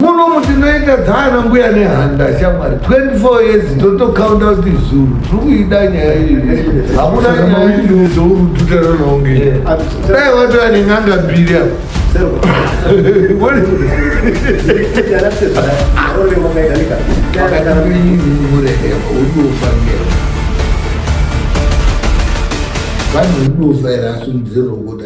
munomu tinoita dzaana mbuya nehanda shamwari 24 years ndotokaunda kuti zuru tiri kuida nyaya iyi hakuna nyayaizourututaranonge dai watova nen'anga mbiri apo vanhu unofaira asundizerokuda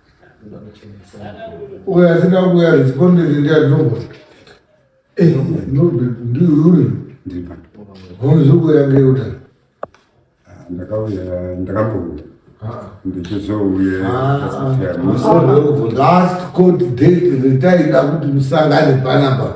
uyo asina kuuya responded ndiani nombo eh, nobert ndiuyu homuzokuuya ngeuda ah, ndakauya ndakambouya ah. ndichizouya ah, last court date retaida kuti musangane panapa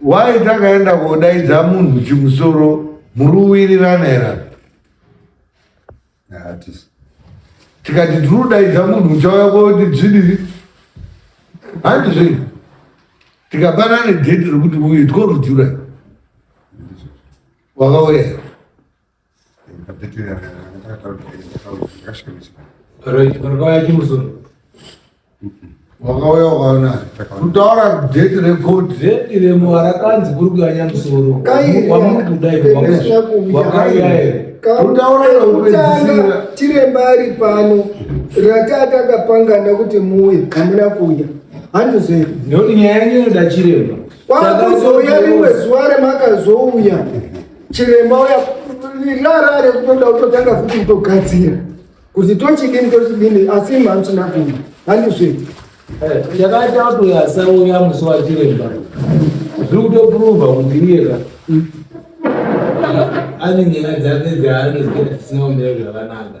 Why takaenda kodaidza munhu chimusoro muri uwirirana here? Hatisi. Tikati tiri kudaidza munhu uchauya koti zvidii? Handi zvei? Tikapana nedheti rekuti uyu tiko rujura. Wakauya here? wakauya ukaona kutaura date record date remuva rakanzi kuri kuyanya musoro kwamuri kudai wakauya here kutaura chiremba ari pano ratatakapangana kuti muuye hamuna kuuya handizve ndoti nyaya yenyu inoda chiremba kwakuzouya rimwe zuva remakazouya chiremba uya rara rekutoda kutotanga futi kutogadzira kuti tochidini tochidini asi mhanzi nakuma handizve chakaita eh, kuti asauya musi wachiremba zviri kutopruvha kuti iyeka ane nyaya dzake dzaanozia tisinaomira zvakanaka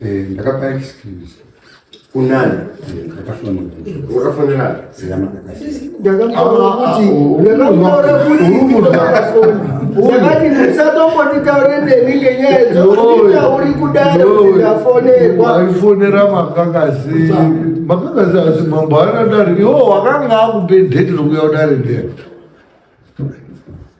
Eh, ndakapa excuse kunani wakafonera ndakati musatombotitaure neni ngenyaya dzouri kudaro ndafonerwa aifonera makakazi makakazi asi mambo aina dare iwo wakanga akupe dheti rokuya kudare ndee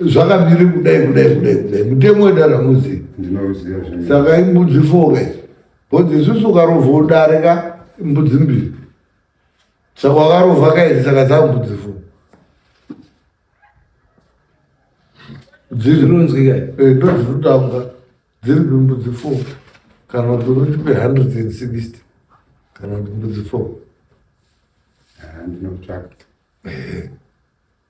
zvakamiri kudai kudai kudai kudai mutemo wedare hamuzivi saka imbudzi four guys bcause isusu ukarova udare ka imbudzi mbiri saka wakarova kairi saka dzambudzi four dzirinonzwika eh, ndodzirikutanga dziri pimbudzi four kana kuti unoti pe hundred and sixty kana kuti mbudzi four ah, ndinotsvaka eh.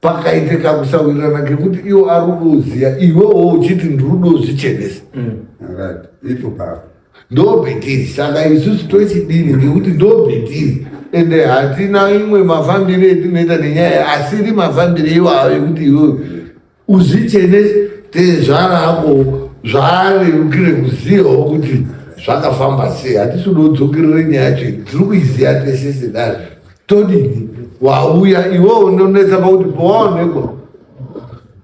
pakaite kakusawirirana kekuti iwo ari kudoziya iwewo uchiti ndiri dozvichenesa mm. ndobhetiri saka isusu tochidini ngekuti ndobhetiri ende hatina imwe mafambiro etinoita nenyaya asiri mafambiro iwawo ekuti iwewe uzvichenese tezvara ako zvaarerukire kuzivawo kuti zvakafamba sei hatisi kudodzokerere nyaya yacho tiri kuiziya tesese dazvo todini wauya iwe unonetsa pakuti pawaonekwa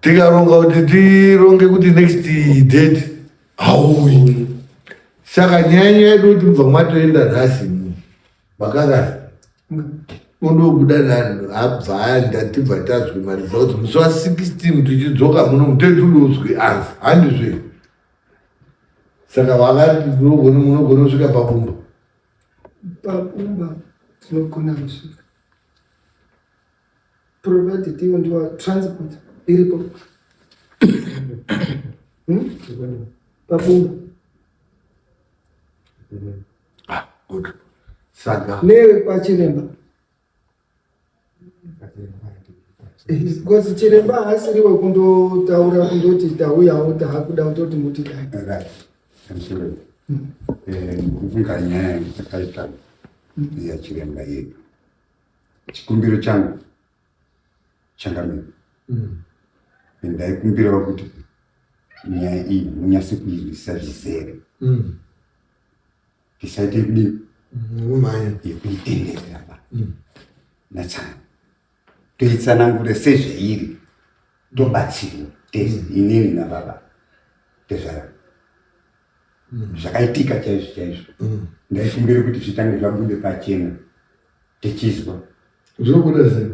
tikaronga kuti tironge kuti next date hauyi saka nyaya nyaya yedu kuti mubva mwatoenda nhasi makakasi undobuda nani abvaya ndatibva tazwi maresults musi wa 16 tichidzoka muno muteti unozwi anzi handizve saka vakati munogona kusvika pabumba Pakumba tinogona kusvika provided ivo ndiwa transport iripo hmm? pakumba ah, nevepachiremba Because chiremba haasiri wekundotaura kundoti tauyawo taakuda kutoti muti dai. Right. I'm sorry. Mm. Eh, kufunga nyaya dzakaita ya chiremba yedu. Chikumbiro changu changamira. Mm. Ndaikumbirawo kuti nyaya iyi munyase kuirwisa zvizere. Mm. tisaite kudii umhanya yekuitenderera ba mm. natsana toitsanangure sezveiri tobatsirwa tese mm. inini nababa tezvara mm. zvakaitika chaizvo chaizvo ndaifumbire kuti zvitange zvabude pachena tichizwa zvobuda sei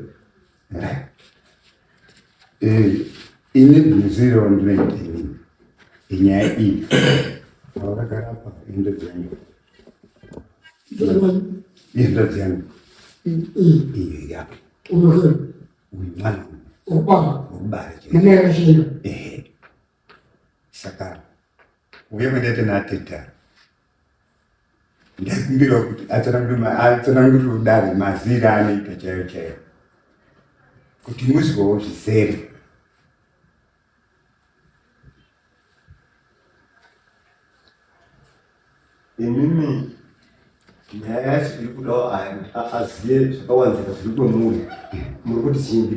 eh, ini bhinzi raundinoita inini inyaya iyi vaakagara pa indo dzenyu indo dzenyu iyo yake uyu mwana ubara ubara chii ehe saka uye mendete nateta ndakumbira kuti atsanangurire kudare mazira anoita chaiyo chaiyo kuti muzivawo zvizere imimi nyaya yacho iri kudawo azive zvakawanzika zviri kwemuri muri kuti chimbi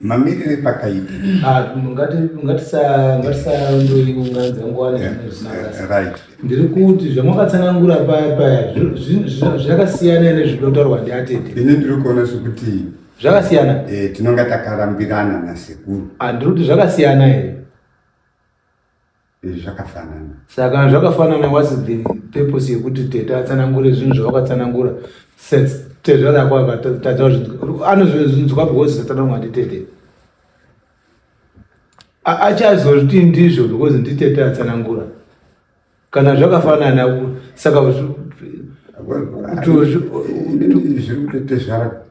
mamirire pakaipa ah, ngatisaunganidza nguva nezvinazvisinaarit ndiri kuti zvamakatsanangura paya paya zvakasiyana ene zvinotaurwa ndiatete ini ndiri kuona sokuti zvakasiyana eh, tinonga takarambirana nasekuru ah, ndiri kuti zvakasiyana here izvi zvakafanana saka zvakafanana what's the purpose yekuti tete atsanangure zvinhu zvavakatsanangura since tezvara yako akatadza anozvinzwa because zvatsanangwa nditete achazozviti ndizvo because nditete atsanangura kana zvakafanana saka zviri kutotezvara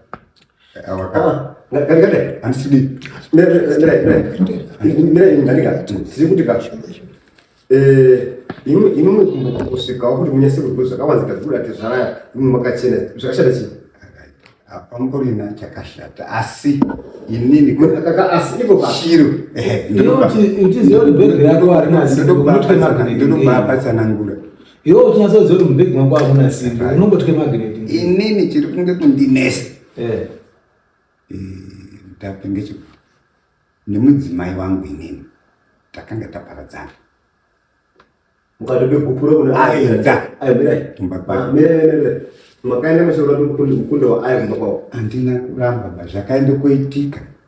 kusvikawo kuti munyase kuziva zvakawanzika dzikuda tezvaraya imwe makachena zvakashata chii pamborina chakashata asi inini asi ivo vashiro ndinobva patsanangura Iwe uchinasa kuziva kuti mubhegi mangu hakuna simba, unongotya magnet. Inini chiri kunge kundinesa. Eh. Eh, ndape ngechi nemudzimai wangu inini takanga taparadzana. Mukatobe gupuro kuna aenda. Ayo mirai. Tumba pa. Ah, mirai mirai. Makaenda mashoro kuti mukunda wa ayo mumba kwao. Andina kuramba ba zvakaenda kuitika.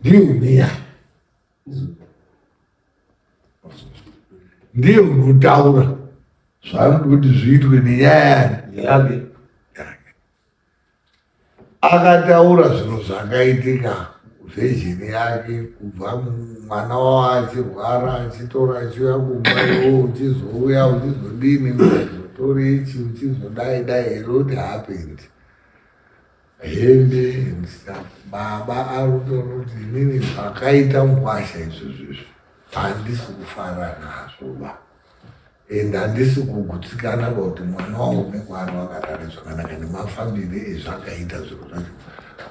ndiye uneya ndiye unotaura zvaanoda kuti zviitwe nenyaya yake akataura zvinhu zvakaitika zvejini yake kubva mwana wavo achirwara achitora achiuya kumba iwo uchizouya uchizodini uchizotori ichi uchizodai dai a lot happened hembe and stuff baba arutoona kuti inini zvakaita mukwasha izvo zvizvo handisi kufara nazvo ba and handisi kugutsikana kuti mwana wangu nekwaari wakatare zvakanaka nemafambire ezvakaita zviro zvacho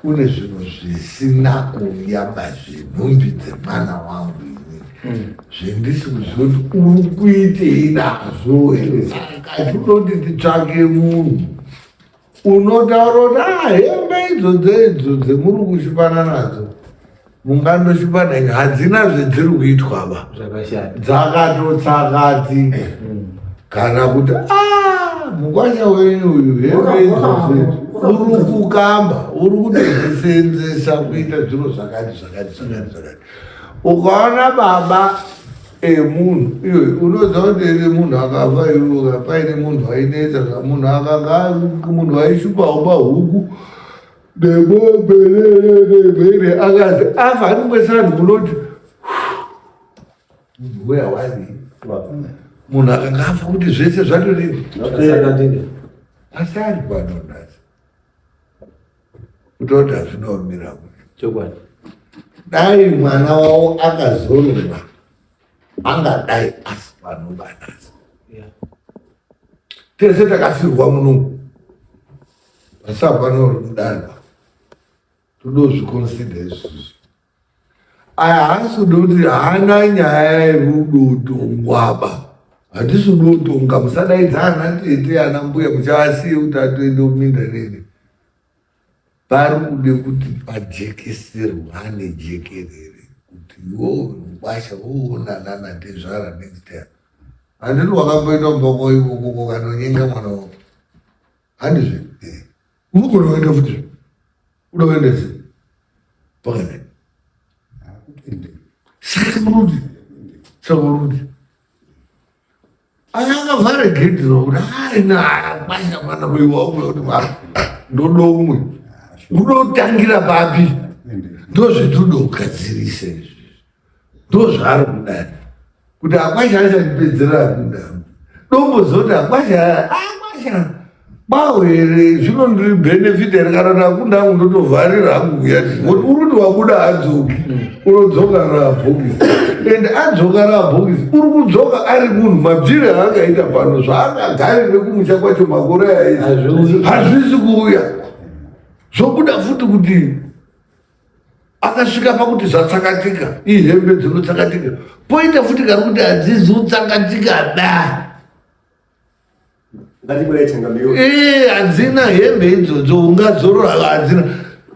kune zvinhu zvisina kuuya pazvinhumbi dzemwana wangu inini hmm. zvendisi kuziva kuti uri kuitei nazvo here saka kazvinoti titsvake munhu unotaura kuti ah, hembe idzo dzeidzo dzemuri kushipana nadzo munganoshipana ine hadzina zvedziri kuitwa ba dzakatotsakati mm. kana kuti ah, mukwasha wenyu uyu hembe idzo uri kukamba uri kutodziseenzesa kuita zviro zvakati zvakati zvakati zvakati ukaona baba emunhu iyo unoziva kuti iri munhu akafa iruka paine munhu ainetsa zvamunhu akanga munhu waishupaumba huku nemombe nemhere akazi afa anongosanhu munoti munhu weya wani munhu akanga afa kuti zvese zvatodii asi ari vanonasi ndoda zvinomira chokwadi dai mwana wavo akazorora angadai asi panobanasa tese takafirwa muno vasava vanori mudanwa todozvikonsidha izvozvo aya haasi kuda kuti haana nyaya yekudotongwaba hatisi kudotonga musadaidza ana tete ana mbuya muchavasiye kuti atoende kuminda nene pari kude kuti pajekeserwane jekerere kuti wo mukwasha woonana natezvara next time handiti wakamboita mboko ikokoko kanonyenga mwana wako handizve eh. unogona kuenda futi uda kuenda se pakadai saka muruti saka muruti aya akavhara gedhi rokuti aina kwasha mwana kuiwa umwe kuti mwana ndodo umwe unotangira papi ndozvitudo ugadzirise izvi ndozvaari kudari kuti akwasha achandipedzerera kuda dombo zoti akwasha akwasha bawo here zvino ndiri benefit here kana ndakunda hangu ndotovharira hangu kuyati oti uri kuti wabuda adzoki unodzoka rabhokisi and adzoka rabhokisi uri kudzoka ari munhu mabvire aakaita pano zvaakagarire kumusha kwacho makore aizvi hazvisi kuuya zvobuda futi kuti akasvika pakuti zvatsakatika ihembe dzinotsakatika poita futi kari kuti hadzizi kutsakatika da ee hadzina hembe idzodzo ungazorora hadzina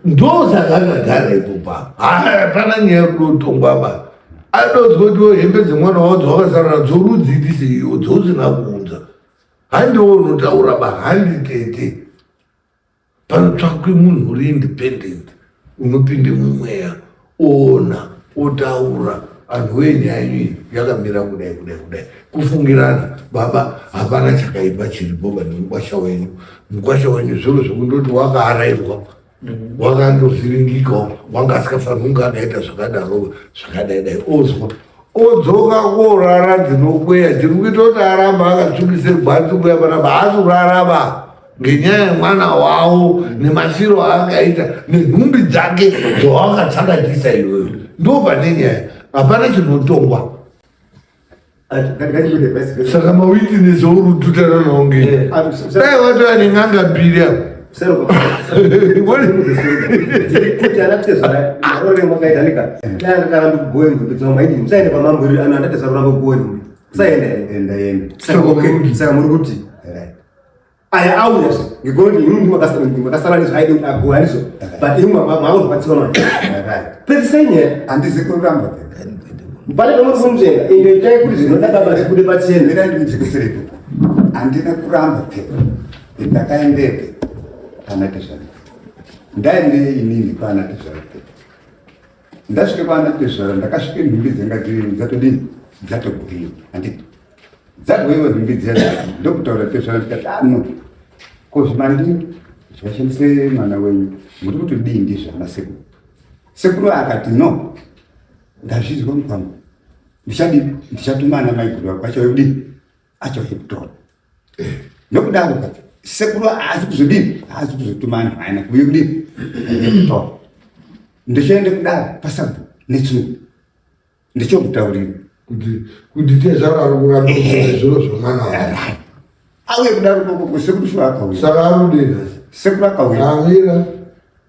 ndosaka akagara ipopa hapana nyaya yekuda kutongwa ba adodzwa kuti hembe dzemwana wavo dzawakasarana dzorudzi iti seiyo dzousina kuunza handiwo unotaura ba handitete panotsvakwe munhu uri independent unopinde mumweya oona otaura anhu wee nyaya yenyu yakamira kudai kudai kudai kufungirana baba hapana chakaipa chiripo pane mukwasha wenyu mukwasha wenyu zviro zvekundoti wakaarairwa wakandovhiringikawo wanga asikafanira kunge akaita zvakadaro zvakadai dai ozwa odzoka korara dzinokweya dziri kuita kuti aramba akatsvukise gwanzi kuya panapa haasi kurarama ngenyaya yemwana wavo nemafiro aakaita nenhumbi dzake dzawakatsakatisa iyoyo ndo pane nyaya hapana chinotongwa saka mawitines aurututana nawo nge dai watova nen'anga mbiri avo saka muri kuti aya auya ngekuti ini ndi makasara ndi makasara ndi zvaidi ago alizo but ini mama mama ubatsira mama right pese nye andizi kuramba mbale kama kumjenga ende itai kuti zvinoda baba zvikude pacheni ndira ndi mjikisiripo andina kuramba pe ndakaendepe kana tezvani ndaende inini kana tezvani ndasvika kwaana tezvara ndakasvika nhumbi dzanga dziri dzatodii dzatogwiwa handiti dzagwiwa nhumbi dziya ndokutaura tezvara ndikati ano ah, ko zvimandi zvashandise mwana wenyu muri kuti dii ndizvana sekuru sekuru akati no ndazvizwa mukwangu ndichadii ndichatuma ana maiguru ako achauya kudii acho hepton eh. nokudaro kacho sekuru haazi kuzodini haazi kuzotuma anhu aina kuuye kudini hepton ndichiende kudaro pasabu netsunu ndichomutaurira kuti tezvaro ari kuramba zviro zvemwana wake auye kudaro kokoko sekuru sho akauya saka arudei sekuru akauya amira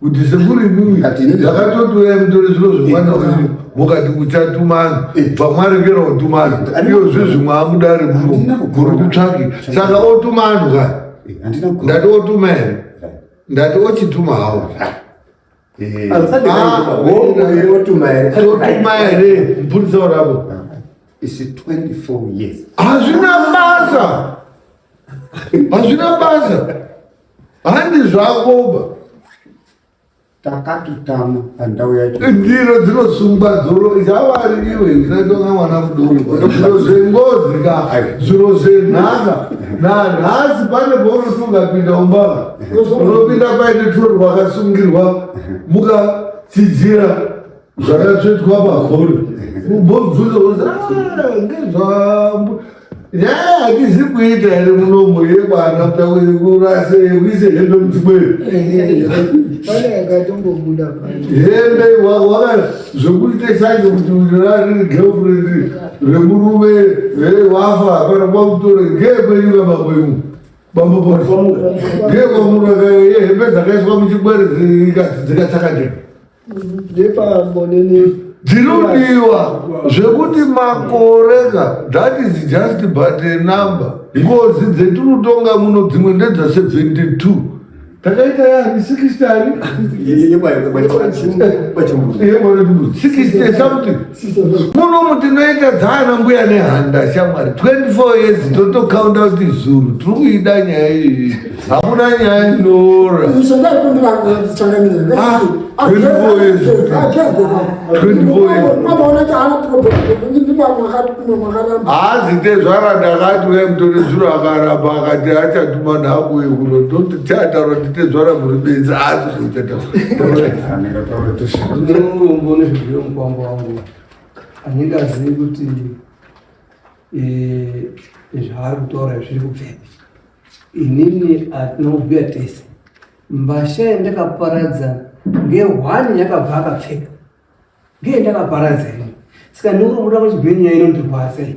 kuti sekuri imimi ndakatotuya mutori zviro zvemwana wenyu mukati kuchatumana pamwarekera utumana iyo zvi zvimwe amudari muno kuri kutsvaki saka otumanhu ka ndati otuma here ndati ochituma hawo otuma here mupurisa urapo hazvina basa hazvina basa handi zvakoba takatotama pandau yacho eh, ndiro dzinosungwa dzoro dzavaririwe zinatonga mwana mudoko zviro zvengozi ka zviro zvenhaka nanhasi pane paunoto ungapinda umbava unopinda paine turo rwakasungirwa mukatsidzira zvakatsvetwa pakona ubobvunza kuti ah, ngezvambo nyaya hatizi kuita here munomo yekwana tauri kurase yekuise hembe mutimweyo hembe waka zvekuita sanje kuti rariri girlfriend remurume wafa hapana kwakutore ngekwenyuka bambo imu bambo boso ngekwamurakayo yehembe dzakaiswa muchikwere dzikatsakadeka nebambo nene dzirodiwa zvekuti makore ka that is just but a number ngozi dzetinotonga muno dzimwe ndedza 72 takaita yani 60 something muno mutinoita dzaana mbuya nehanda shamwari 24 years totokaunda kuti zuru tiri kuida nyaya iyi hakuna nyaya inoora haazi tezvara ndakati uya mutore zuro akaramba akati achatuma nhaku yekuno ndoti tiataura kuti tezvara muri benzi asi zvochataura Mambo wangu anenge azivi kuti eh, zvaari kutaura zviri kubvepi. Inini atinobhuya tese mbasha yandakaparadza ngehwani yakabva akapfeka ngeyandakaparadza ini saka ndikuti muda kuchigwenyu yainondirwadza iyi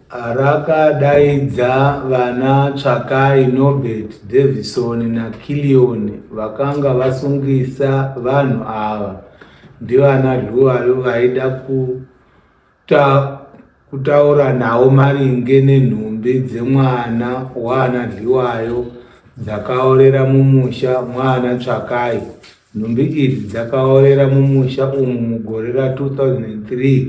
Rakadaidza vana Tsvakai, Nobert, Davison naKillion vakanga vasungisa vanhu ava ndivana Dluwayo vaida kuta, kutaura nawo maringe nenhumbi dzemwana waana Dliwayo dzakaorera mumusha mwaana Tsvakai. Nhumbi idzi dzakaorera mumusha umu mugore ra 2003.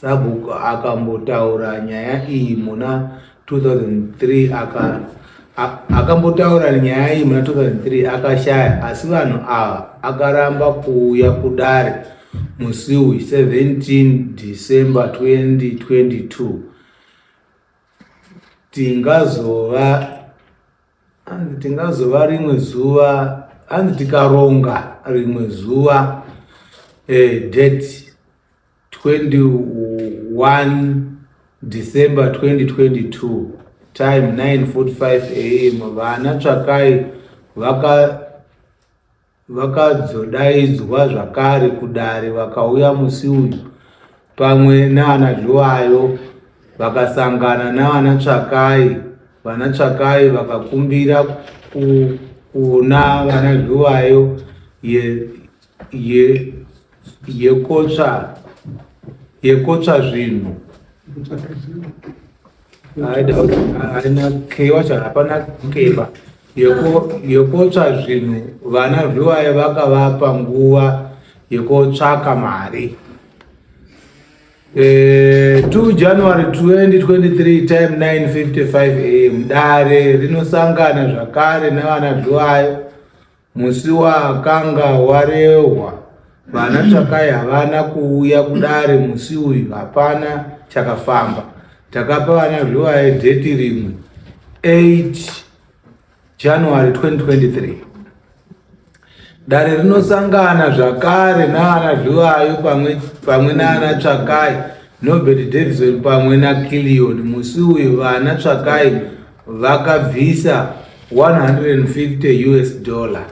Sabhuku akambotaura nyaya iyi muna 2003 aka akambotaura nyaya iyi muna 2003 akashaya asi vanhu ava akaramba kuuya kudare musi uyu 17 December 2022 tingazova anzi tingazova rimwe zuva anzi tikaronga rimwe zuva eh, date 21 December 2022 time 9:45 am vana Tsvakai vaka vakazodaidzwa zvakare kudare vakauya musi uyu pamwe naana Zhuwayo vakasangana naana Tsvakai vana Tsvakai vakakumbira ku, kuna vana Zhuwayo ye ye yekotsva yekotsva zvinhu haina keiwa cha hapana keiwa yekotsva zvinhu vana zviwaye vakavapa nguva yekotsvaka mari e, eh, 2 january 2023 time 955 am dare rinosangana zvakare navana zviwayo Musi wakanga warehwa vana Tsvakai havana kuuya kudare musi uyu hapana chakafamba. Takapa vana Zviwaye dheti rimwe 8 January 2023. Dare rinosangana zvakare naana Zviwayo pamwe, pamwe naana Tsvakai Nobert Davison pamwe naKillion. Musi uyu vana Tsvakai vakabvisa 150 us dollar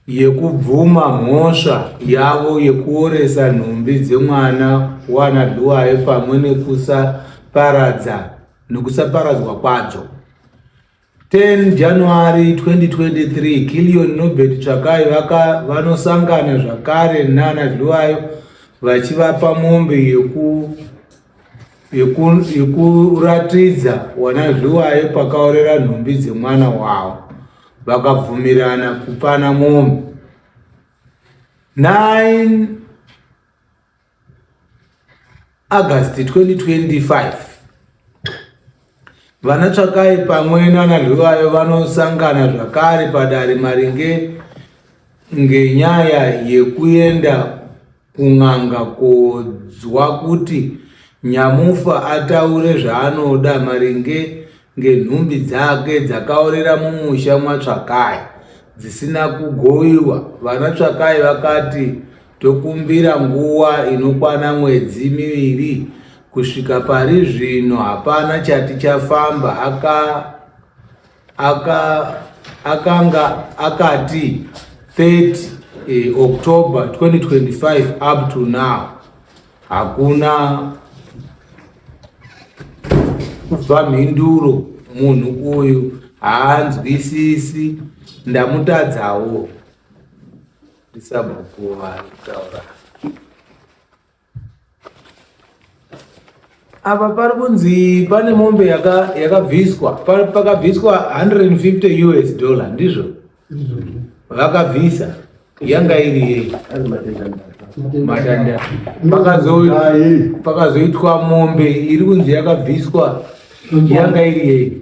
yekubvuma mhosva yavo yekuoresa nhumbi dzemwana wana dhuwaye pamwe nekusaparadza nekusaparadzwa kwadzo 10 January 2023 Killion Nobert Tsvakai vaka vanosangana zvakare nana Dluwayo vachivapa mombe yeku yekuratidza yeku wana Dluwayo pakaorera nhumbi dzemwana wavo vakabvumirana kupana mombe 9 August 2025 vana Tsvakai pamwe nana Rwivayo vanosangana zvakare padare maringe ngenyaya yekuenda kun'anga kodzwa kuti Nyamufa ataure zvaanoda maringe ngenhumbi dzake dzakaorera mumusha mwaTsvakai dzisina kugoiwa. Vana Tsvakai vakati Tokumbira nguva inokwana mwedzi miviri. Kusvika pari zvino hapana chati chafamba, aka, aka, akanga akati 30 eh, October 2025 up to now hakuna kubva mhinduro munhu uyu haanzwisisi ndamutadzawo Sabhuku varikutaura apa pari kunzi pane mombe yakabviswa pakabviswa 150 us dollar ndizvo vakabvisa yanga iri yei matanda pakazoitwa mombe iri kunzi yakabviswa yanga iri yei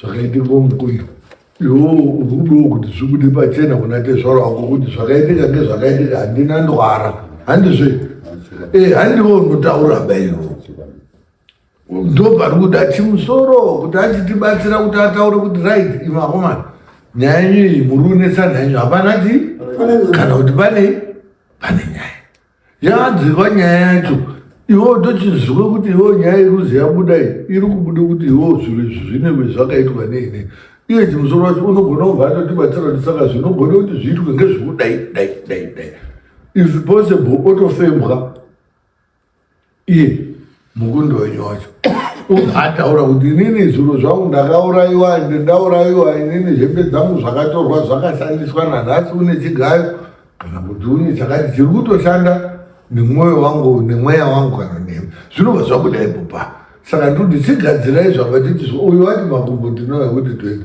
zvakaitirwa mukuyu iwo ukudiwo kuti zvibude pachena kuna tezvaro wako kuti zvakaitika ngezvakaitika handina ndwara handizve e eh, handiwo unotaura baiwo ndopari kuda chimusoro kuti achitibatsira kuti ataure kuti right ivakomana nyaya yenyu iyi muri unetsananyu hapana ti kana kuti pane pane nyaya Yaadzirwa nyaya yacho iwo tochiziva kuti iwo nyaya iri kuzi yabuda iyi iri kubuda kuti iwo zviro izvi zvinenge zvakaitwa neine iye chimusoro wacho unogona kubva atotibatsira kuti saka zvinogona kuti zviitwe ngezvekudai dai dai dai if possible otofembwa iye mukundo wenyu wacho ataura kuti inini zviro zvangu ndakaurayiwa ende ndaurayiwa inini hembe dzangu zvakatorwa zvakashandiswa nanhasi une chigayo kana kuti une chakati chiri kutoshanda nemwoyo wangu nemweya wangu kana nemi zvinobva zvabuda ipopa saka ndoti chigadzirai zvakatiti uyu wati makumbo ndinoya kuti toita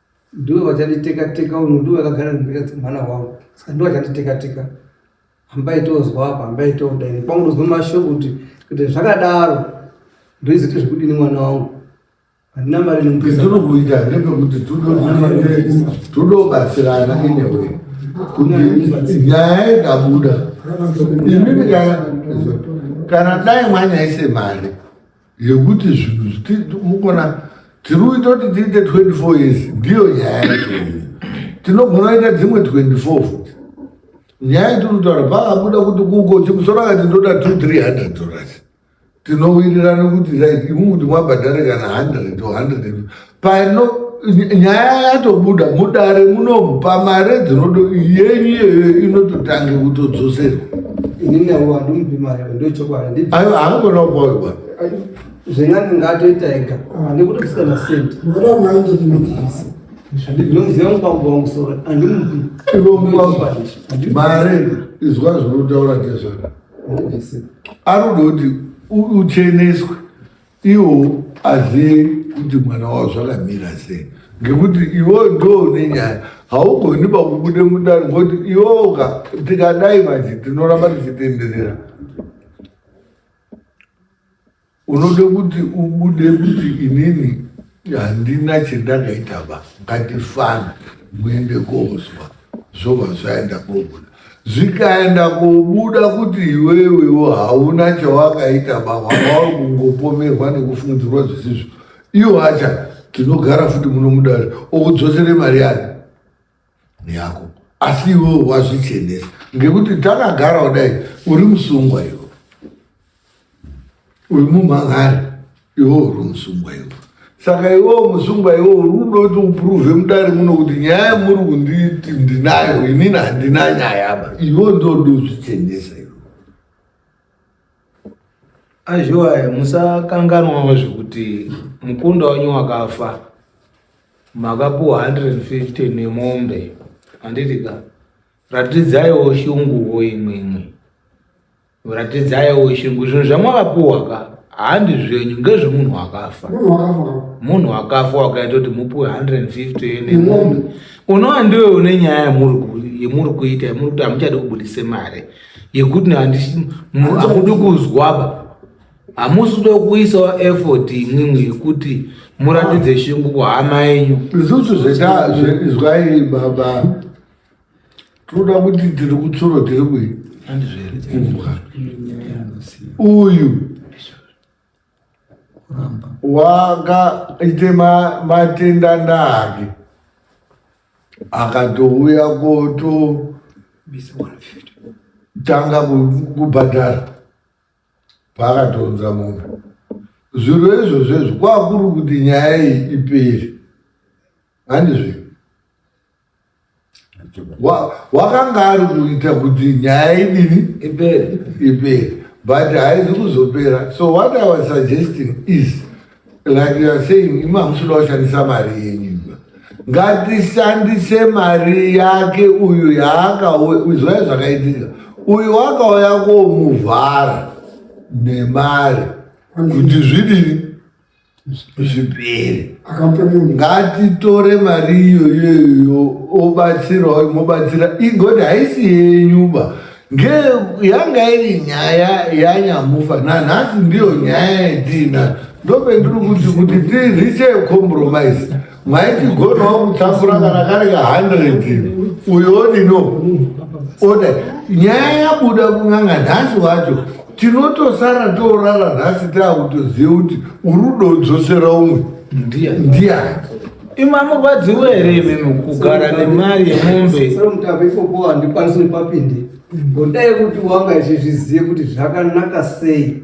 ndiwe vachanditeka teka uyu ndiwe vakagara nemhika dzemwana wangu saka ndiwe vachanditeka teka hambai tozwa apa hambai todai kwangu ndozwa mashoko kuti kuti zvakadaro ndoiziti zvekudini mwana wangu handina mari nemupesatiri kuita ndepekuti todobatsirana inewe kuti nyaya ikabuda imimi kana dai mwanyaise mari yekuti zvinhu mukona tiri kuita kuti tiite 24 years ndiyo nyaya yacho tinogona kuita dzimwe 24 futi nyaya itirikutaura pakabuda kuti kuko chimusoro akati ndoda 2300 dollars tinowirirana kuti like imu kuti mwabhadhare kana 100 or 100 pano nyaya yatobuda mudare munomu pamare dzinodo yenyu iyoyo inototange kutodzoserwa aiwa haangona kupawe bwana zvenyani ngaatoita ega hande kuti kusika na senti ndinomuziva mukwangu wangu sora andimupi mare izwa zvinotaura tezvara ari kuda kuti ucheneswe Iwo azive kuti mwana wavo zvakamira sei ngekuti iwo ndo une nyaya haugoni pakubude mudare ngokuti iwoka tikadai manje tinoramba tichitenderera unode kuti ubude kuti inini handina chendakaita ba ngatifana muende kozwa zvova zvaenda kobuda zvikaenda kobuda kuti iwewewo hauna chawakaita baba wao kungopomerwa nekufungidzirwa zvisizvo iwo acha tinogara futi muno mudare okudzosere mari yayo neyako asi iwewo wazvichenesa ngekuti takagara kudai uri musungwa iwe uyu mumhangari iwo uri musungwa iwo saka iwo musungwa iwo uri kuda kuti upruve mudare muno kuti nyaya muri kunditi ndinayo inini handina nyaya ba iwo ndodi uzvichenesa iwo azhiwaya musakanganwawo zvekuti mukunda wenyu wakafa makapuwa 150 nemombe handitika ratidzaiwo shunguwo imwe imwe Ratidzaiwo shungu zvinhu zvamwakapuwa ka handi zvenyu ngezvemunhu akafa munhu akafa wakaita kuti mupuwe 150 nemombe unova ndiwe une nyaya yemuri kuita yemuri kuti hamuchadi kubudise mari yekuti hamudi kuzwaba hamusi kuda kuisawo effort imwimwe yekuti muratidze shungu kuhama yenyu isusu zvaizwai baba tinoda kuti tiri kutsoro tiri kui uyu wakaite matenda ndake akatouya koto tanga kubhadhara paakatonza munhu zviro izvozvo izvo kwakuri kuti nyaya iyi ipere handizvino wakanga ari kuita kuti nyaya idini ipere ipere but haizi kuzopera so what i was suggesting is like you are saying imi hamusuda kushandisa mari yenyu ngatishandise mari yake uyu yaakaizwai zvakaitika uyu wakauya komuvhara nemari kuti zvidini zvipere ngatitore mari iyoyoyo obatsirawo imobatsira igoti haisi yenyuba yanga iri nyaya yanyamufa nanhasi ndiyo nyaya yatiina ndopendiri kuti kuti tiriche compromise maikigonawo kutakura kana kari ka 100 uyo odino oda nyaya yabuda kun'anga nhasi wacho tinotosara toorara nhasi taakutoziva kuti urudo udzosera umwe ndiyani ima murwadzi were imimi kugara nemari yemombe ndikwanisi nepapindi ngodai kuti wanga ichizviziva kuti zvakanaka sei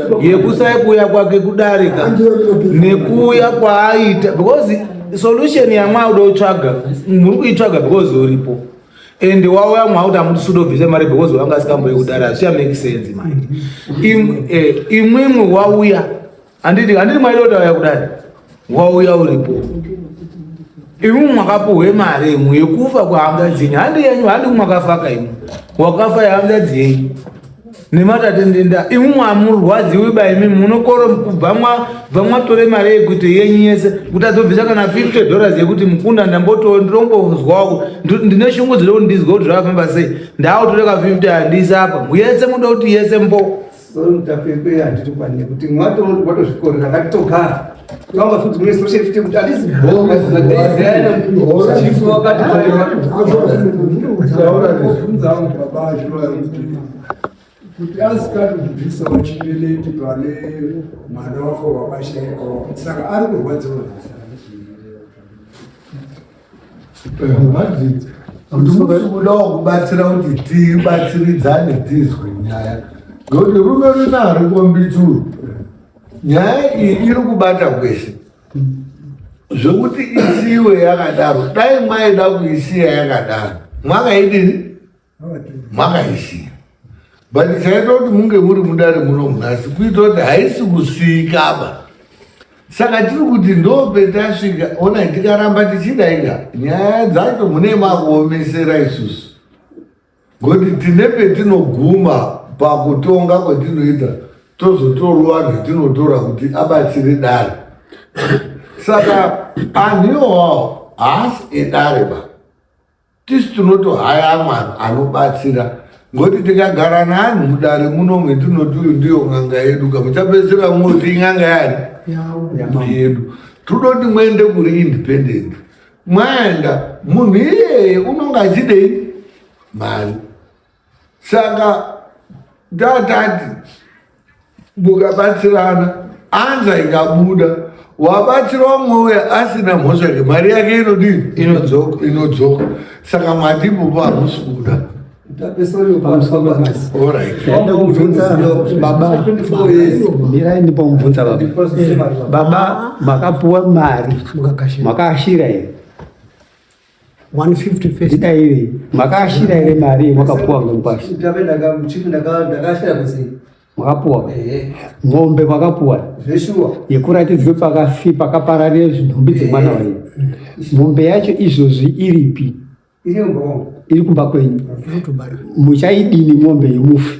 yekusaibuya kwake kudarika nekuuya kwaaita because solution yamwauda utsvaga muri kuitsvaga because uripo and wauya mwakuti amuti sudobvise mari because wanga asikamboye kudara hazvicha make sense mai imwimwi eh, wauya handiti handiti mwaida kuti auya kudari wauya uripo imi mwakapuhwe mari imwe yekufa kwehanga dzenyu handi yenyu handi mwakafaka imwe wakafa yehanga dzenyu nematatendenda imi mwamurwadziwi ba imi munokoro kubva mwatore mari yekuti yenyu yese kuti adzobvisa kana 50 dollars yekuti mukunda ndamboto ndirombozwako ndine shungu dziri kundizwa kuti zvakafamba sei ndautore ka 50 handisi apa yese muda kuti yese mbo So mutapekwe handiti kwani nekuti mwato watozvikorera ngatitogara. Kama futhi mina soshe futhi ukuthi alizi bonga zizadezela chifu wakati kuti asikati kubvisa uchibeleti pane mwana wako wabasheko saka ari kurwadziwa kudawo kubatsira kuti tibatsiridzane tizwe nyaya ngokuti rume runaro kombituru nyaya iyi iri kubata kwese zvekuti isiwe yakadaro dai mwaida kuisiya yakadaro mwakaidini makaisiya but chaita kuti munge muri mudare muno munhasi kuita kuti haisi kusiikaba saka tiri kuti ndopetasvika ona tikaramba tichidaika nyaya dzacho mune makuomesera isusu ngokuti tine petinoguma pakutonga kwatinoita tozotorwa vanhu tinotora kuti abatsire dare saka anhu iwawo haasi edare ba tisu tinotohaya amwe anobatsira ngokuti tikagara neanhu mudare muno metinoti uyu ndiyo n'anga yedu ka muchapedzisira moti in'anga yani yedu tinoti muende kuri independent mwaenda munhu iyeye unonge achidei mari saka tatati mukabatsirana anza ikabuda wabatsira umwe uye asina mhosva yake mari yake inodii inodzoka inodzoka saka mwati ipopo hamusi kuda baba makapuwa mari makaashira here 150 first dai iwe makashira ere mari makapuwa ngopashi ndabe ndaka chief ndaka ndakashira kusi makapuwa eh ngombe makapuwa zveshuwa yekuratidzwe pakafi pakaparare zvinhumbi dzemwana eh. wayo ngombe yacho izvozvi iripi iri ngombe iri kumba kwenyu muchaidini ngombe yemufi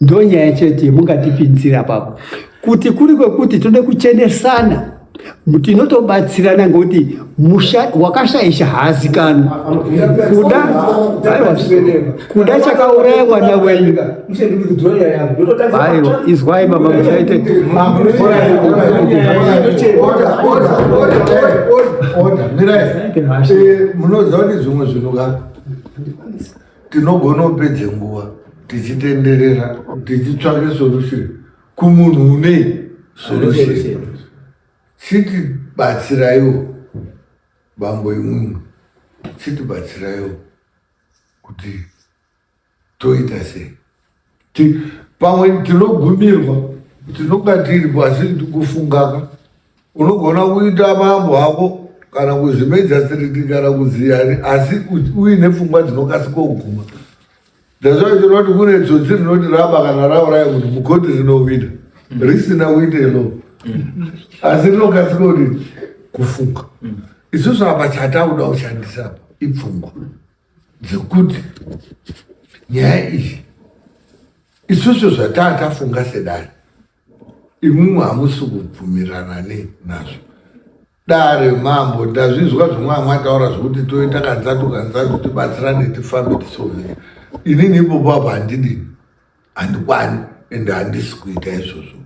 Ndonyaya chete yemungatipinzira papo kuti kuri kwekuti tode kuchenesana tinotobatsirana ngokuti musha wakashaisha haazikanwi kuda kuda chakauraya mwana wenyu aiwa izwai baba musaite munoziva kuti zvimwe zvinhu ka tinogona kupedza nguva tichitenderera tichitsvake solution kumunhu une solution chiti batsiraiwo bambo imwimwe chiti batsiraiwo kuti toita sei pamwe tinogumirwa tinonga tiripo asi tikufungaka unogona kuita mambo hako kana kuzvimedza siriti kana kuziyani asi uine pfungwa dzinokasika kuguma ndazvaa chinoti kune tsotsi rinoti raba kana rauraya kuti mukoti rinovida mm. risina kuita ilo mm. asi rinokasika kuti kufunga mm. isusu apa chatakuda kushandisa apa ipfungwa dzekuti nyaya iyi isusu zvataa tafunga sedare imwimwe hamusi kubvumirana ne nazvo dare mambo ndazvinzwa zvimwe amwe ataura zvekuti toita kanzatu kanzatu tibatsirane tifambe tisovhera inini ipopo apo handidini handikwani ende handisi kuita izvozvo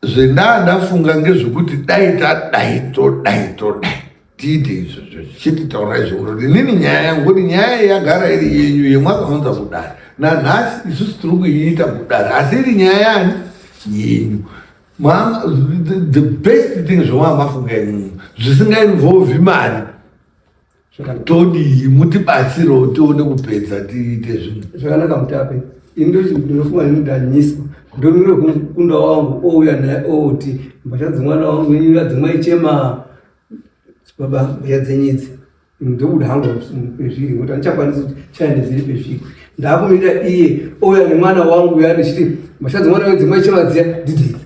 zvendaa ndafunga ngezvekuti dai tadai todai todai tiite izvo zvichiti taura izvo kuti inini nyaya yangu kuti nyaya yagara iri yenyu yemwakaunza kudari nanhasi isusu tiri kuiita kudari asi iri nyaya yani yenyu the best thing zvamwaa mafunga imimi zvisingainvolvi mari Saka todii mutibatsirewo tione kupedza tiite zvinhu zvakanaka mutape ini ndochi ndinofunga ini ndanyiswa ndomire kumukunda wangu ouya naye oti mbatya dzemwana wangu ini adzimai chema baba mbatya dzenyidzi ndobuda hangu pezviri ngokuti andichakwanisi kuti chaende dziri pezviri ndakumirira iye ouya nemwana wangu uya ndichiti mbatya dzemwana wedzimai chema dziya ndidzidzi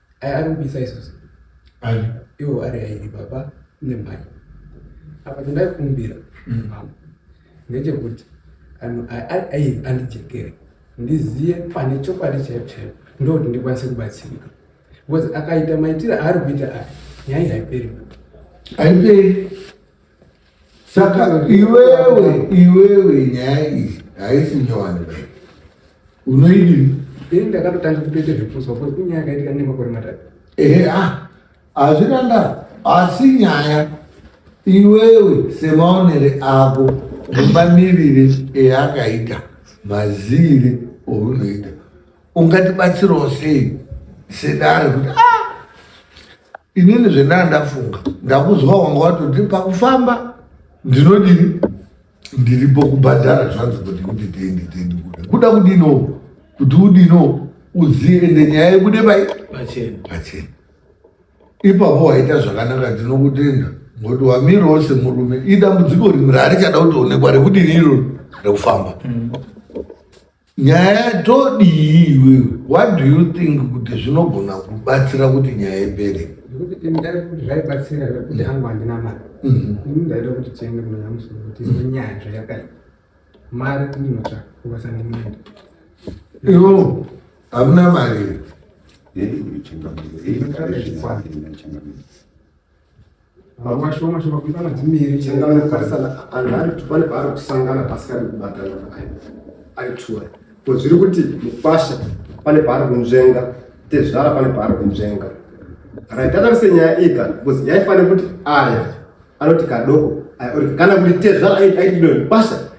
Aya ari kubisa isusu. Ani? Iwo ari airi baba nemai. Apa chandaikumbira mm. mama ndechekuti anhu airi andijekere ndiziye pane chokwadi chaipo chaipo ndokuti ndikwanise kubatsirika because akaita maitire aari kuita aya nyaya haiperi haiperi saka iwewe iwewe nyaya iyi haisi nyowani unoidini ini ndakatotanga kutoita zvipuswa po inyaya yakaitika nemakore matatu ehe a ah, hazvina ndaa asi nyaya iwewe semaonere ako nemamirire eyakaita mazivire ounoita ungatibatsirawo sei sedare kuti ah, inini zvendaa ndafunga ndakuzwa wanga watoti pakufamba ndinodini ndiripo kubhadhara zvanzi kuti kuti tende tende kuda kuda kudino kuti udino uzive ende nyaya yebude pai pachena pachena ipapo waita zvakanaka ndinokutenda ngokuti wamirawo semurume idambudziko rimwe raarichada kutoonekwa rekudini iroro rekufamba mm. nyaya todii iwewe what do you think kuti zvinogona kubatsira kuti nyaya ipere nekuti ndaida kuti zvaibatsira kuti hangu handina mari mhm. ini ndaida kuti tiende kunonyamusa kuti nyaya zvayakaya mari ndinotsvaka kubasa ndimwende ivo hamuna mari yedu kuchingamira Vamwe vashoma shoma kuita madzimiri changana kukarisana anhu ari kuti pane paari kusangana pasikadi kubatana pakai ari tura ko zviri kuti mukwasha pane paari kunzvenga tezvara pane paari kunzvenga raitatarise nyaya iyi ka because yaifanira kuti aya anoti kadoko aya oti kana kuti tezvara aitidoni kwasha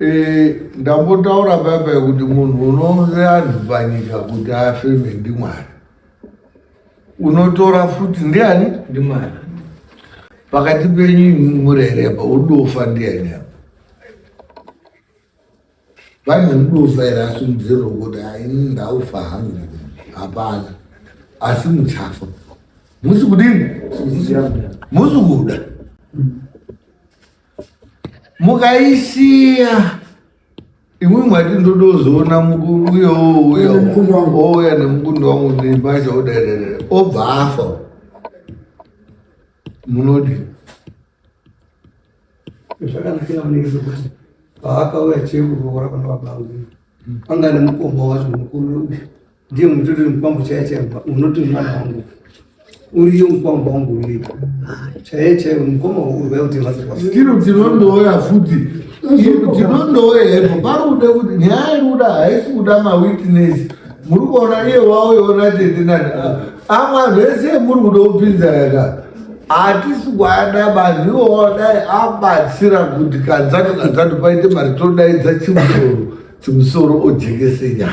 Eh, ndambotaura baba kuti munhu unounze anhu panyika kuti afeme ndimwari unotora futi ndiani ndimwari pakati penyu murere apa udofa ndiani apa vane mudofa here asimudzero kuti aini ndaufa hangu hapana asi muchafa musi kudini musi kuda mm. mukaisiya imwe mwati ndodozoona uyo uya ouya nemukundi wangu nembasha oderere obva afa munodi zvakanakira vanenge zvekuti paakauya chekuroora pana babangu panga nemukoma wacho mukuru ndiye mutori mukwambo chaiye chaiye unoti mwana wangu uriyo mukwambo wangu uripo chaiye chaiye mukoma urikuda kuti vazokwasiro dzinondouya futi dzinondouya hepo pari kuda kuti nyaya iri kuda haisi kuda mawitness muri kuona iye wauyoona tete nani amwa zvese muri kuda kupinza yaka hatisi kuada vanhu iwo wadai abatsira kuti kanzatu kanzatu paite mari todaidza chimusoro chimusoro ojekese nyaya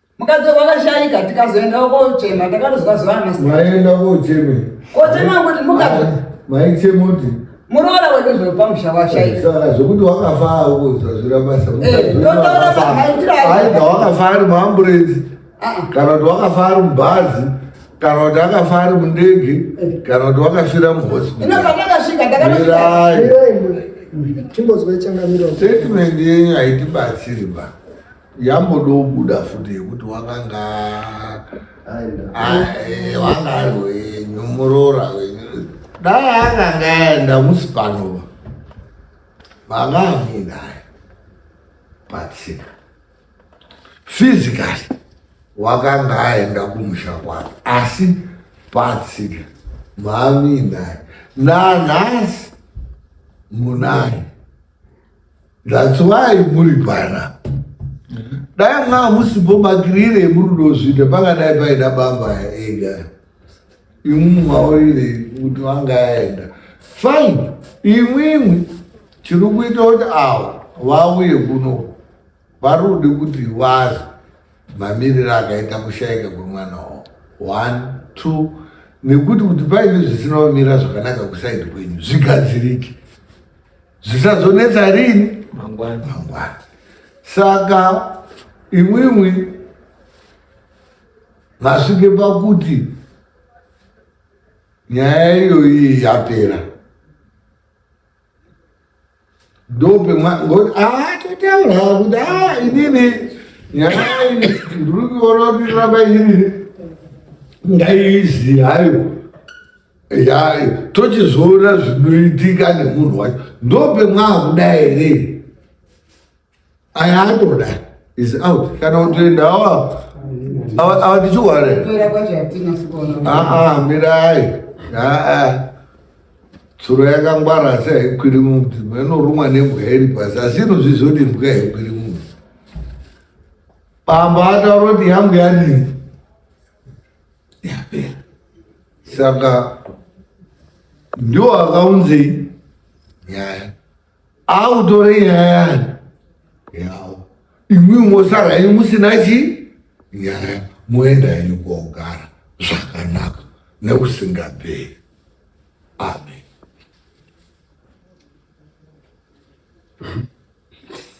mukadzi wakashaika tikazoendawo kochema takatozwa zuva maienda kocheme kochema kuti mukadzi maichema kuti muroora wedu zvepamusha washaika saka zvekuti wakafa auzwa zvira basa aida wakafa ari muamburenzi kana kuti wakafa ari mubhazi kana kuti akafa ari mundege kana kuti wakafira muhospitalaitatimende haitibatsiri ba yambodobuda futi yekuti wakanga wanga ari wenyu muroora wenyu dai akanga aenda musi panova vanga amuinaye patsika physically wakanga aenda kumusha kwake asi patsika maamuinaye nanhasi munaye That's why muri pana. Dai mwa musipo bakirire muri dozvita panga dai paida baba ega. Imu maurire kuti wanga aenda. Fine. Imwimwi chiri kuita kuti awa vauye kuno Parudi kuti was mamiriro akaita kushaika kwemwana wavo one two nekuti kuti paine zvisina kumira zvakanaka kusaidi kwenyu zvigadzirike zvisazonetsa rini mangwana mangwana saka imwimwi masvike pakuti nyaya iyoyi yapera ndope atotaura ah, kuti a ah, inini nyaya ndiri kuona kuti ramba ini ndaiizi hayo yayo tochizoona zvinoitika nemunhu wacho ndope mwakuda here aya atoda is out kana kutoenda awa awa awa tichiware aa mirai aa tsuro yakangwara asi haikwiri mumti inorumwa nembwa iri pasi asi inozvizoti mbwa haikwiri mumti pamba ataura kuti yangu yadii yapera saka ndiwo akaunzei nyaya autore nyaya yani yao imwi mosara ini musina chi nyaya moenda henyu kwaugara zvakanaka neusingaperi amen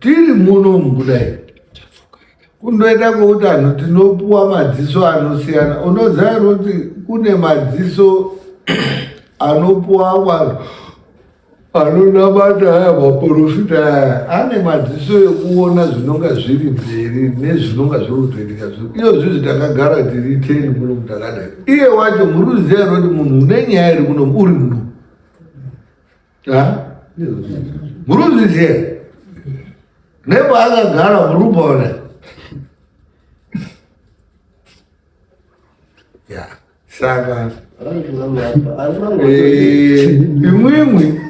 tiri muno mukudai kundoita kwekuti anhu tinopuwa madziso anosiyana unoziva here kuti kune madziso anopuwa vanhu anonamata aya maporofita aya ane madziso ekuona zvinonga zviri mberi nezvinonga zviri kutoitika zvo iyo zvizi takagara tiri teni muno mutakadai iye wacho muri kuziva here kuti munhu une nyaya iri kuno uri muno muruzviziva nepaakagara murubona ya saka eh, imwimwi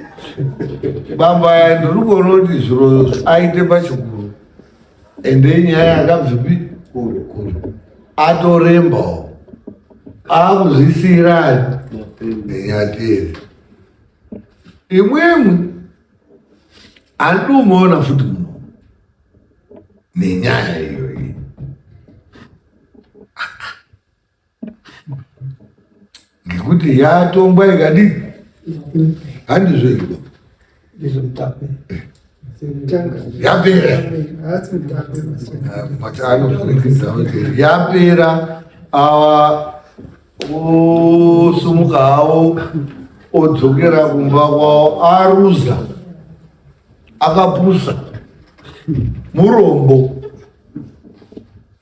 bamba ya ndiri kuona kuti zviro aite pachikuru ende inyaya yakabvipi kure kure atorembawo akuzvisirani nenyatezi Imwimwi andumoona futi muno nenyaya iyo iyi. Ngekuti yatongwa ikadii? Handizvo izvo. Ndizvo mutape. Eh. yapera but anokurudzira kuti yapera awa osumuka hawo odzokera kumba kwawo aruza akapusa murombo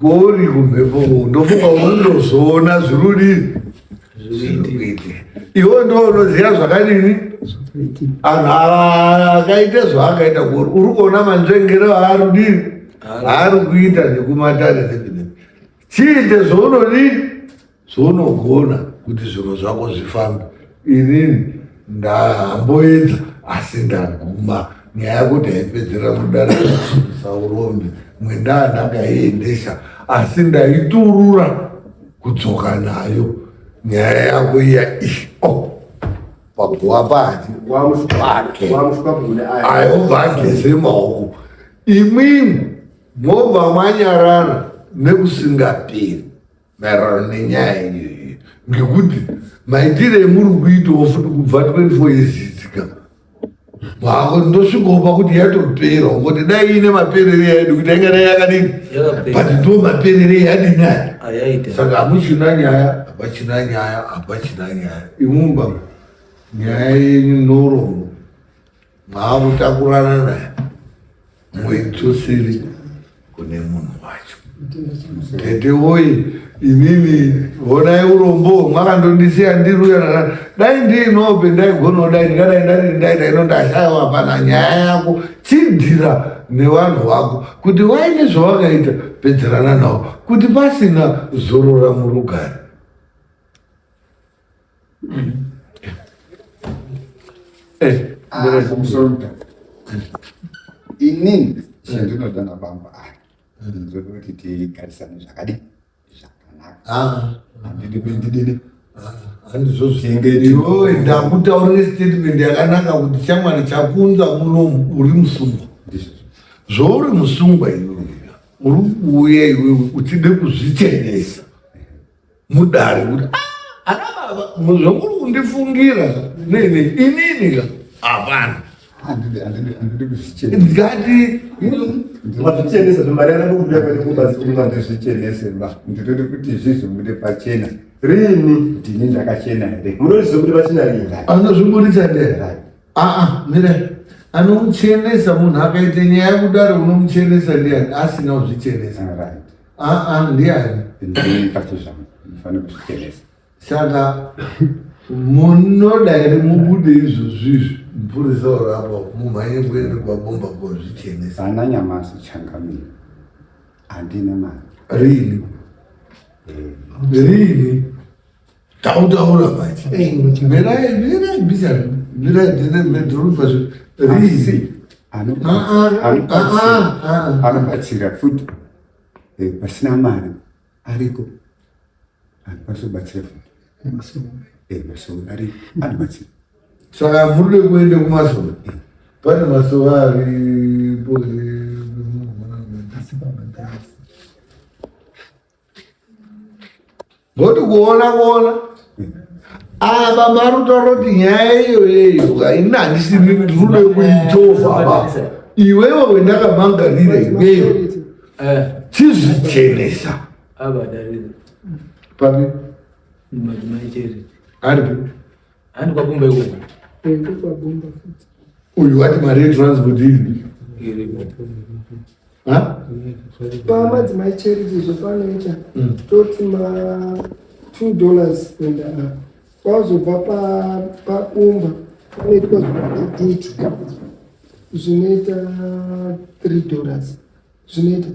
Gori kumhepo ndofunga unozoona zvirudi zvirikuitika. Iwe ndiwe unoziva zvakadini anhu ava akaita zvaakaita gori uri kuona manzvengere aari kudini aari kuita nekumatare nekunei chiite zvaunodii zvounogona kuti zvinhu zvako zvifambe inini ndahamboedza asi ndaguma nyaya yako taipedzera mudare saurondi mwendaa ndakaiendesa asi ndaiturura kudzoka nayo nyaya yako iya ishi oh, paguwa pati wake ayobva ageze maoko imwimwi mobva mwanyarara nekusingaperi maererano nenyaya yenyu iyi ngekuti maitire emuri kuitawo futi kubva 24 years idzika mako ndosvikopa kuti yatopera ungoti dai iine maperere yaidi kuti aingadai yakadini but ndo maperere yadi nyaya ah, saka hamuchina nyaya hapachina nyaya hapachina nyaya imumba nyaya yenyu norombo maakutakurana naye muitusiri kune munhu wacho tete woye inini honai urombo mwakandondisiya ndiruya dai ndiinope ndaigona dai ndingadai ndarindaita ino ndashaiwa hapana nyaya yako chidhira nevanhu vako kuti waine zvawakaita pedzerana nawo kuti pasina zorora murugare Eh, ah, inini chandinoda nabamba aya ndoda kuti tigarisane zvakadi zvakanaka ah. handidi kuindidini handizvozvoiwe ndakutaurira statement yakanaka kuti chamwari chakunza muno uri musungwa zvouri musungwa iwe uri kuuya iwewe uchide kuzvichenesa mudare kuti ah, ana baba zvamuri kundifungira nene inini ka hapana ndikati mazvichenesa zvemari aramba kubuda kwete kubazi kumwa ndizvichenese ba nditode kuti zvizvibude pachena rini ndini ndakachena here munozviziva kuti pachena rini anozviburitsa ndera aa mira anomuchenesa munhu akaita nyaya kudaro unomuchenesa ndiani asina kuzvichenesa right aa ndiani ndini kacho zvangu ndifane kuzvichenesa saka munoda here mubude izvozvizvi mupurisa orapa mumhanye kuende kwabomba kozvichenesa ana nyamasi changamire handina mari rini Eh, rini tautaura manje mirai mirai bisa mirai ndine ndinopa rizi anobatsira futi eh, pasina mari ariko anokwanisa kubatsira futi eh, masoro ari anobatsira saka muri kuenda kumasoro eh. pane masoro aripo ngokuti kuona kuona apa ah, mari utaura kuti nyaya iyoyeyo haina handisi rudo kuitova basa iwewe wendakamangarira iweyo eh. chizvichenesa papi aripi Handi kwa Bumba ikoko. Handi kwa Bumba futi. Uyu ati mari yetransport iri. Iri. Ha? Pama dzimai charity zvepanoita hmm. toti ma 2 dollars kuenda apa. Kwazobva pa pa Bumba panoitwa dutu zvinoita 3 dollars zvinoita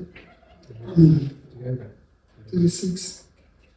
hmm. tiri 6